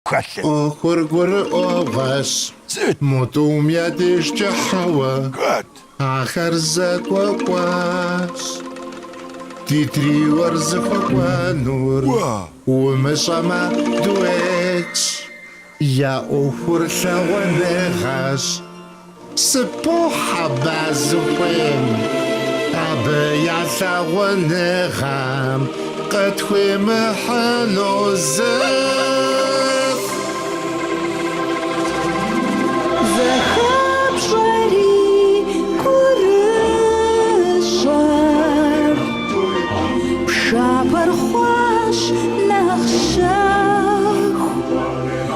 хэлъыр. ӏуэхур гурыӏуэгъуэщ, мо тӏум я дежкӏэ хьэуэ, ахэр зэгуэкӏуащ. Ди триор зыхуэкӏуэнур умыщӏэмэ дуэтщ, я ӏуэхур лъагъуныгъэщ. Сыппохь аба зыхуейм, абы я лъагъуныгъэм къытхуимыхьыну зыр. Зэхэпщӏэрэ гурыщӏэр пшапэр хъуащ нэхъ щэху.